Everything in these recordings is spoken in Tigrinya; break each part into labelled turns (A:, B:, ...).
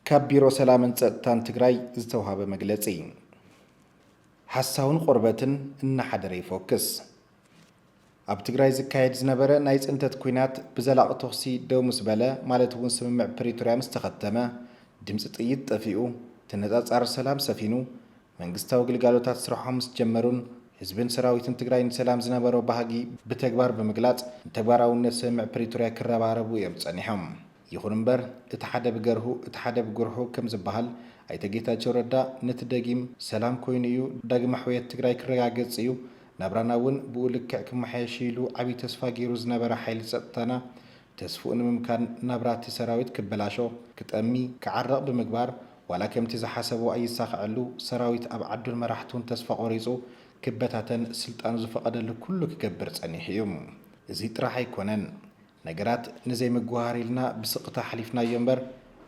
A: ካብ ቢሮ ሰላምን ፀጥታን ትግራይ ዝተውሃበ መግለፂ። ሓሳውን ቆርበትን እናሓደረ ይፎክስ። ኣብ ትግራይ ዝካየድ ዝነበረ ናይ ፅንተት ኲናት ብዘላቒ ተኹሲ ደው ምስ በለ ማለት እውን ስምምዕ ፕሪቶርያ ምስ ተኸተመ ድምፂ ጥይት ጠፊኡ ተነፃፃሪ ሰላም ሰፊኑ መንግስታዊ ግልጋሎታት ስርሖም ምስ ጀመሩን ህዝብን ሰራዊትን ትግራይ ንሰላም ዝነበሮ ባህጊ ብተግባር ብምግላፅ ንተግባራዊነት ስምምዕ ፕሪቶርያ ክረባረቡ እዮም ፀኒሖም። ይኹን እምበር እቲ ሓደ ብገርሁ እቲ ሓደ ብጉርሑ ከም ዝበሃል ኣይተ ጌታቸው ረዳ ነቲ ደጊም ሰላም ኮይኑ እዩ ዳግመ ሕውየት ትግራይ ክረጋገፅ እዩ ናብራና እውን ብኡ ልክዕ ክመሓየሽ እዩ ኢሉ ዓብዪ ተስፋ ገይሩ ዝነበረ ሓይሊ ፀጥታና ተስፍኡ ንምምካን ናብራ እቲ ሰራዊት ክበላሾ፣ ክጠሚ፣ ክዓርቕ ብምግባር ዋላ ከምቲ ዝሓሰቦ ኣይሳኸዐሉ፣ ሰራዊት ኣብ ዓዱን መራሕቱን ተስፋ ቆሪጹ ክበታተን ስልጣኑ ዝፈቐደሉ ኩሉ ክገብር ጸኒሑ እዩ። እዚ ጥራሕ ኣይኮነን። ነገራት ንዘይምጉህሃር ኢልና ብስቕታ ኣሕሊፍናዮ እምበር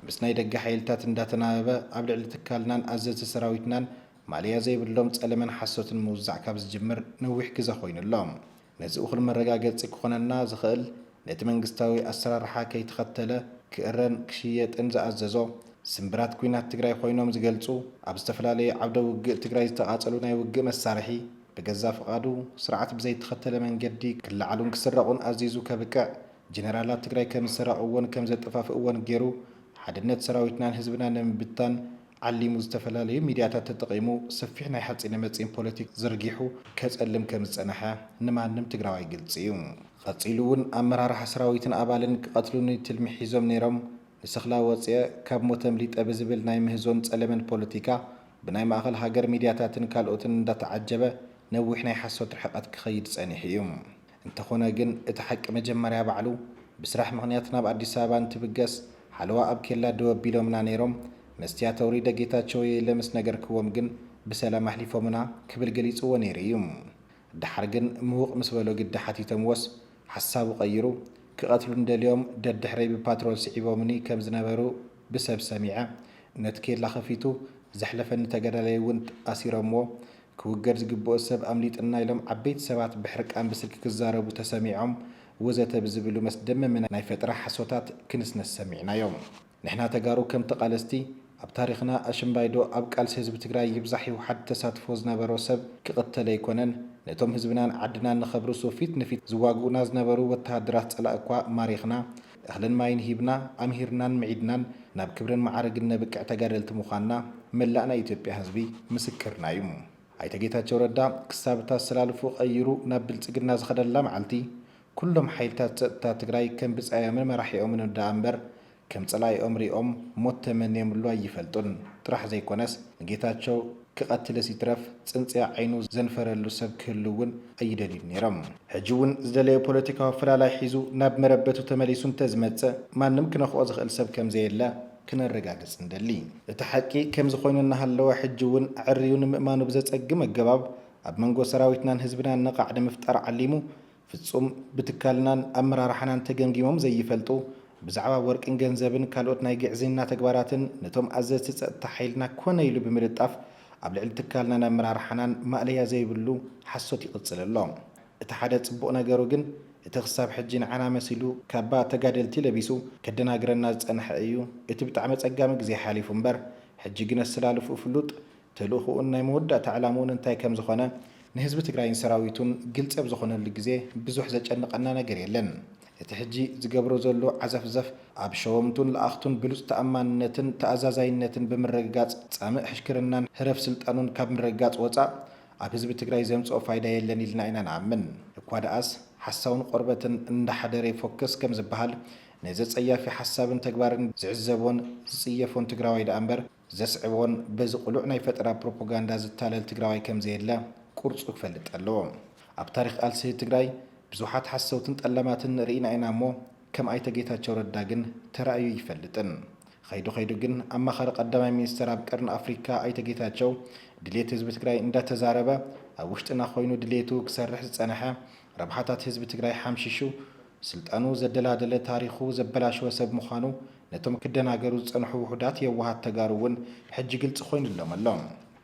A: ምስ ናይ ደገ ሓይልታት እንዳተናበበ ኣብ ልዕሊ ትካልናን ኣዘዝቲ ሰራዊትናን ማለያ ዘይብሎም ጸለመን ሓሶትን ምውዛዕ ካብ ዝጅምር ነዊሕ ግዘ ኮይኑ ኣሎ። ነዚ እኹል መረጋገጺ ክኾነና ዝኸእል ነቲ መንግስታዊ ኣሰራርሓ ከይተኸተለ ክእረን ክሽየጥን ዝኣዘዞ ስምብራት ኩናት ትግራይ ኾይኖም ዝገልጹ ኣብ ዝተፈላለዩ ዓውደ ውግእ ትግራይ ዝተቓጸሉ ናይ ውግእ መሳርሒ ብገዛ ፍቓዱ ስርዓት ብዘይተኸተለ መንገዲ ክለዓሉን ክስረቑን ኣዚዙ ከብቅዕ ጀነራላት ትግራይ ከምዝሰረቕዎን ከምዘጠፋፍእዎን ገይሩ ሓድነት ሰራዊትናን ህዝብናን ንምብታን ዓሊሙ ዝተፈላለዩ ሚድያታት ተጠቒሙ ሰፊሕ ናይ ሓፂነ መፂን ፖለቲክ ዝርጊሑ ከፀልም ከምዝፀነሐ ንማንም ትግራዋይ ግልፂ እዩ። ቐፂሉ እውን ኣመራርሓ ሰራዊትን ኣባልን ክቐትሉኒ ትልሚ ሒዞም ነይሮም ንሰኽላ ወፂኤ ካብ ሞት ኣምሊጠ ብዝብል ናይ ምህዞን ፀለመን ፖለቲካ ብናይ ማእኸል ሃገር ሚድያታትን ካልኦትን እንዳተዓጀበ ነዊሕ ናይ ሓሶት ርሕቐት ክኸይድ ፀኒሑ እዩ። እንተኾነ ግን እቲ ሓቂ መጀመርያ ባዕሉ ብስራሕ ምኽንያት ናብ ኣዲስ ኣበባ እንትብገስ ሓለዋ ኣብ ኬላ ደው ኣቢሎምና ነይሮም፣ መስትያት ኣውሪደ ጌታቸው'የ ኢለ ምስ ነገርክዎም ግን ብሰላም ኣሕሊፎምና ክብል ገሊጽዎ ነይሩ እዩ። ደሓር ግን ምውቕ ምስ በሎ ግዲ ሓቲቶምዎስ ሓሳቡ ቀይሩ ክቐትሉኒ ደልዮም ደድሕረይ ብፓትሮል ስዒቦምኒ ከም ዝነበሩ ብሰብ ሰሚዐ ነት ኬላ ከፊቱ ዘሕለፈኒ ተጋዳላይ እውን ኣሲሮምዎ ክውገድ ዝግብኦ ሰብ ኣምሊጥና ኢሎም ዓበይቲ ሰባት ብሕርቃን ብስልኪ ክዛረቡ ተሰሚዖም ወዘተ ብዝብሉ መስደመሚ ናይ ፈጠራ ሓሶታት ክንስነስ ሰሚዕናዮ ንሕና ተጋሩ ከም ተቃለስቲ ኣብ ታሪኽና ኣሽምባይ ዶ ኣብ ቃልሲ ህዝቢ ትግራይ ይብዛሕ ይውሓድ ተሳትፎ ዝነበሮ ሰብ ክቅተል ኣይኮነን ነቶም ህዝብናን ዓድናን ንከብርሱ ፊት ንፊት ዝዋግኡና ዝነበሩ ወተሃደራት ፀላእኳ ማሪኽና እኽልን ማይን ሂብና፣ ኣምሂርናን ምዒድናን ናብ ክብርን መዓርግን ነብቅዕ ተጋደልቲ ምዃንና መላእ ናይ ኢትዮጵያ ህዝቢ ምስክርና እዩ። ኣይተ ጌታቸው ረዳ ክሳብ እታ ኣሰላልፍኡ ቀይሩ ናብ ብልፅግና ዝኸደላ መዓልቲ ኩሎም ሓይልታት ፀጥታ ትግራይ ከም ብፃዮምን መራሒኦምን እዳኣምበር ከም ፀላኢኦም ሪኦም ሞት ተመንዮምሉ ኣይፈልጡን ጥራሕ ዘይኮነስ ንጌታቸው ክቐትልስ ይትረፍ ጽንጽያ ዓይኑ ዘንፈረሉ ሰብ ክህሉ እውን ኣይደልዩን ነይሮም። ሕጂ እውን ዝደለዮ ፖለቲካዊ ኣፈላላይ ሒዙ ናብ መረበቱ ተመሊሱ እንተዝመጸ ማንም ክነኽኦ ዝኽእል ሰብ ከምዘየለ ክነረጋግጽ ንደሊ። እቲ ሓቂ ከምዚ ኮይኑ እናሃለወ ሕጂ እውን ኣዐርዩ ንምእማኑ ብዘጸግም ኣገባብ ኣብ መንጎ ሰራዊትናን ህዝብናን ነቓዕ ንምፍጣር ዓሊሙ ፍጹም ብትካልናን ኣመራርሓናን ተገምጊሞም ዘይፈልጡ፣ ብዛዕባ ወርቅን ገንዘብን ካልኦት ናይ ግዕዝይና ተግባራትን ነቶም ኣዘዝቲ ጸጥታ ሓይልና ኮነ ኢሉ ብምልጣፍ ኣብ ልዕሊ ትካልናን ኣመራርሓናን ማእለያ ዘይብሉ ሓሶት ይቕጽል ኣሎ። እቲ ሓደ ጽቡቕ ነገሩ ግን እቲ ክሳብ ሕጂ ንዓና መሲሉ ካባ ተጋደልቲ ለቢሱ ከደናግረና ዝጸንሐ እዩ። እቲ ብጣዕሚ ኣጸጋሚ ግዜ ሓሊፉ እምበር ሕጂ ግነስላልፍኡ ፍሉጥ ተልእኹኡን ናይ መወዳእታ ዕላምኡን እንታይ ከም ዝኾነ ንህዝቢ ትግራይን ሰራዊቱን ግልፂ ኣብ ዝኾነሉ ግዜ ብዙሕ ዘጨንቐና ነገር የለን። እቲ ሕጂ ዝገብሮ ዘሎ ዓዘፍዘፍ ኣብ ሸወምቱን ለኣኽቱን ብሉፅ ተኣማንነትን ተኣዛዛይነትን ብምርግጋፅ ፃምእ ሕሽክርናን ህረፍ ስልጣኑን ካብ ምርግጋፅ ወፃእ ኣብ ህዝቢ ትግራይ ዘምፅኦ ፋይዳ የለን ኢልና ኢና ንኣምን። እኳ ደኣስ ሓሳውን ቖርበትን እንዳሓደረ ይፎክስ ከምዝበሃል ነዚ ፀያፊ ሓሳብን ተግባርን ዝዕዘቦን ዝፅየፎን ትግራዋይ ደኣ እምበር ዘስዕቦን በዚ ቅሉዕ ናይ ፈጠራ ፕሮፖጋንዳ ዝታለል ትግራዋይ ከምዘየለ ቁርፁ ክፈልጥ ኣለዎ። ኣብ ታሪኽ ቓልሲ ትግራይ ብዙሓት ሓሰውትን ጠላማትን ርኢና ኢና እሞ ከም ኣይተ ጌታቸው ረዳ ግን ተራእዩ ኣይፈልጥን። ኸይዱ ኸይዱ ግን ኣማኻሪ ቐዳማይ ሚኒስትር ኣብ ቐርኒ ኣፍሪካ ኣይተ ጌታቸው ድልየት ህዝቢ ትግራይ እንዳተዛረበ ኣብ ውሽጥና ኾይኑ ድልየቱ ክሰርሕ ዝፀነሐ ረብሓታት ህዝቢ ትግራይ ሓምሺሹ ስልጣኑ ዘደላደለ ታሪኹ ዘበላሸወ ሰብ ምዃኑ ነቶም ክደናገሩ ዝጸንሑ ውሑዳት የዋሃት ተጋሩ እውን ሕጂ ግልጺ ኮይኑሎም ኣሎ።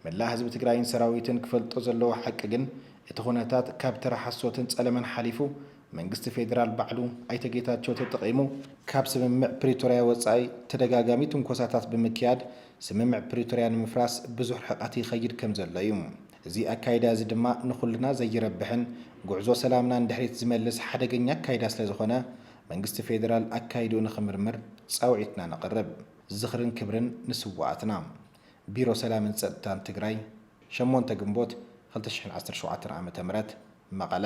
A: መላእ ህዝቢ ትግራይን ሰራዊትን ክፈልጦ ዘለዎ ሓቂ ግን እቲ ኩነታት ካብ ተራ ሓሶትን ጸለመን ሓሊፉ መንግስቲ ፌደራል ባዕሉ ኣይተ ጌታቸው ተጠቒሙ ካብ ስምምዕ ፕሪቶርያ ወጻኢ ተደጋጋሚ ትንኮሳታት ብምክያድ ስምምዕ ፕሪቶርያ ንምፍራስ ብዙሕ ርሕቐት ይኸይድ ከምዘሎ እዩ። እዚ ኣካይዳ እዚ ድማ ንኹልና ዘይረብሕን ጉዕዞ ሰላምና ንድሕሪት ዝመልስ ሓደገኛ ኣካይዳ ስለዝኾነ መንግስቲ ፌደራል ኣካይድኡ ንኽምርምር ፃውዒትና ነቕርብ። ዝኽርን ክብርን ንስውኣትና! ቢሮ ሰላምን ፀጥታን ትግራይ ሸሞንተ ግንቦት ክልተ ሽሕን ዓሰርተ ሸውዓተን ዓ ም መቐለ።